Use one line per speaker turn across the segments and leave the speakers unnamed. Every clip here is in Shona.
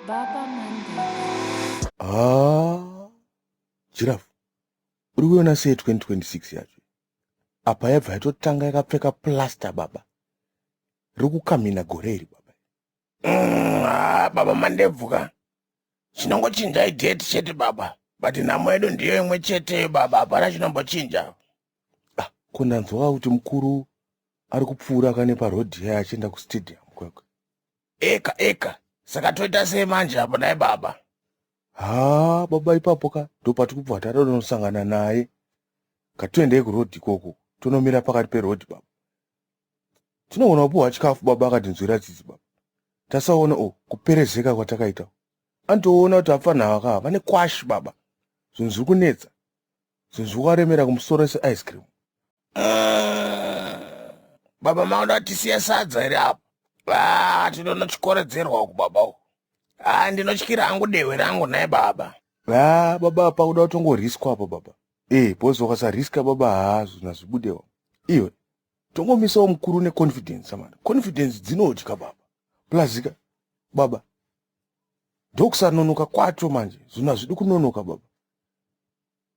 Baba Mandela. Ah, Giraffe, uri kuiona sei 2026 yacho? Apa yabva yatotanga yakapfeka plaster baba. Riri kukamhina gore iri baba. Mm, ah,
baba mandebvu ka chinongochinjai date chete baba but nhamo yedu ndiyo imwe chete baba hapana chinombochinja Ah, ko
ndanzwa kuti mukuru ari kupfuura kane paroad yaye achienda kustadium kwekwe eka
eka saka toita sei manje apo dai baba haa
baba ipapo ka ndopati kubva tatonosangana naye ngatiendei kuroad ikoko tonomira pakati peroad baba tinogona kupiwa chikafu baba akatinzwira tsitsi baba tasaona o kuperezeka kwatakaita antoona kuti apfanha ava kaa vane kwashi baba zvinhu zviri kunetsa zvinhu zviri kuvaremera kumusoro seice cream
baba maona tisiya sadza here apa va tinono chikoredzerwa uku baba uku ha ndinotyira hangu dehwe rangu nhai baba va baba
apa kuda kutongoriskwa apa baba e eh, bhozi wakasariska baba haa zvinhu hazvibudewa iyo tongomisawo mukuru neconfidence samana confidence dzinodya baba plazika baba ndokusanonoka kwacho manje zvinhu hazvidi kunonoka baba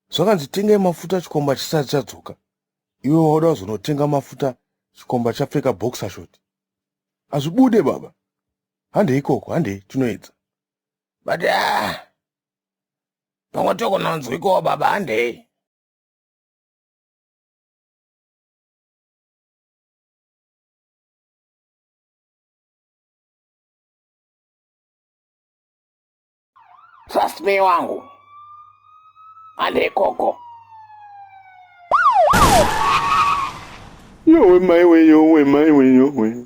zvakanzi tengai mafuta chikomba chisati chadzoka iwe wauda kuzonotenga mafuta chikomba chapfeka boxer shot hazvibude baba handei ikoko handei tinoedza but
ah, pamwe tokonanzwikowo baba handei Trust me wangu. Ande koko.
Yowe maiwe yowe maiwe yowe.